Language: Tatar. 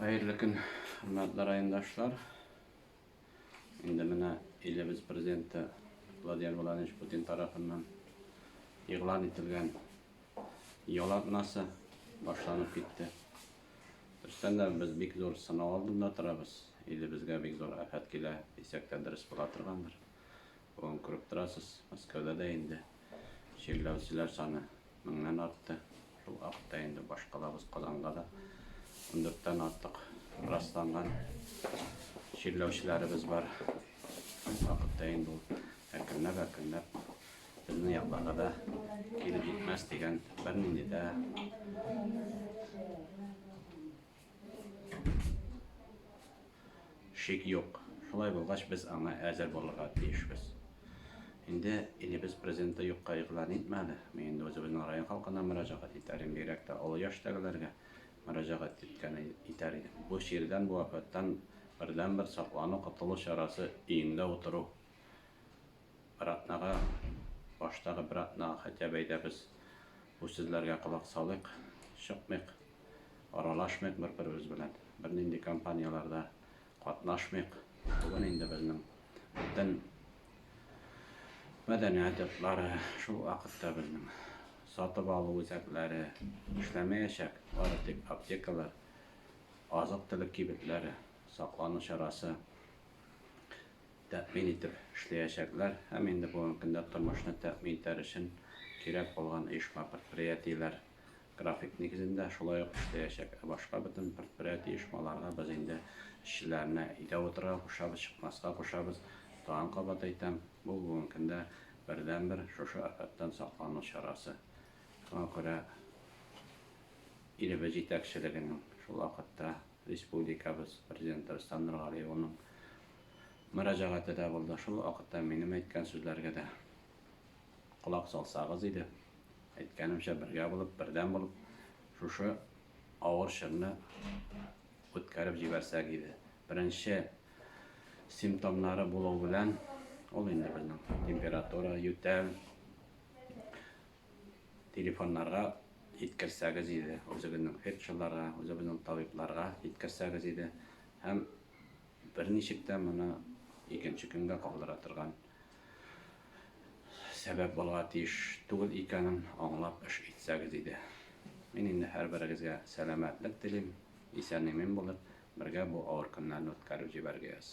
Хәерле көн, хөрмәтле райондашлар. Инде менә илебез президенты Владимир Владимирович Путин тарафыннан игълан ителгән ял атнасы башланып китте. Дөрестән дә без бик зур сынау алдында торабыз. Илебезгә бик зур афәт килә дисәк тә дөрес була торгандыр. Бүген күреп торасыз, Мәскәүдә дә инде чирләүчеләр саны меңнән артты. Шул хакта инде башкалабыз Казанга да ундүрттән артык расланган чирләүчеләребез бар. Шул хакта инде ул әкренләп, әкренләп безнең якларга да килеп җитмәс дигән бернинди дә Шик юк. Шулай булгач, без аңа әзер булырга тиешбез. Инде илебез президенты юкка игълан итмәде. Мин инде үзебезнең район халкына мөрәҗәгать итәрем, бигрәк тә олы яшьтәгеләргә мөрәҗәгать иткән итәр идем. Бу чирдән, бу афәттән бердәнбер саклану, котылу чарасы өеңдә утыру. Бер атнага, баштагы бер атнага хотя бы әйдәбез, Бу сүзләргә колак салыйк, чыкмыйк, аралашмыйк бер-беребез белән, бернинди кампанияләрдә катнашмыйк. Бүген инде безнең бөтен мәдәният йортлары, шул вакытта безнең сатып алу үзәкләре эшләмәячәк, бары тик аптекалар, азык-төлек кибетләре саклану чарасы тәэмин итеп эшләячәкләр һәм инде бүгенге көндә тормышны тәэмин итәр өчен кирәк булган оешма-предприятиеләр график нигезендә шулай ук эшләячәк, ә башка бөтен предприятие-оешмаларга без инде эшчеләрне өйдә утырырга кушабыз, чыкмаска кушабыз. Тагын кабат әйтәм, бу бүгенге көндә бердәнбер шушы афәттән саклану чарасы. Шуңа күрә илебез җитәкчелегенең шул вакытта, Республикабыз Президенты Рөстәм Нургали улының мөрәҗәгате дә булды. Шул ук вакытта минем әйткән сүзләргә дә колак салсагыз иде. Әйткәнемчә, бергә булып, бердәм булып, шушы авыр чорны үткәреп җибәрсәк иде. Беренче симптомнары булу белән, ул инде безнең температура, ютәл, Телефоннарга җиткерсәгез иде, үзегезнең фельдшерларга, үзебезнең табибларга җиткерсәгез иде. Һәм берничек тә моны икенче көнгә калдыра торган сәбәп булырга тиеш түгел икәнен аңлап эш итсәгез иде. Мин инде һәрберегезгә сәламәтлек телим, исән-имин булып, бергә бу авыр көннәрне үткәреп җибәргәяз.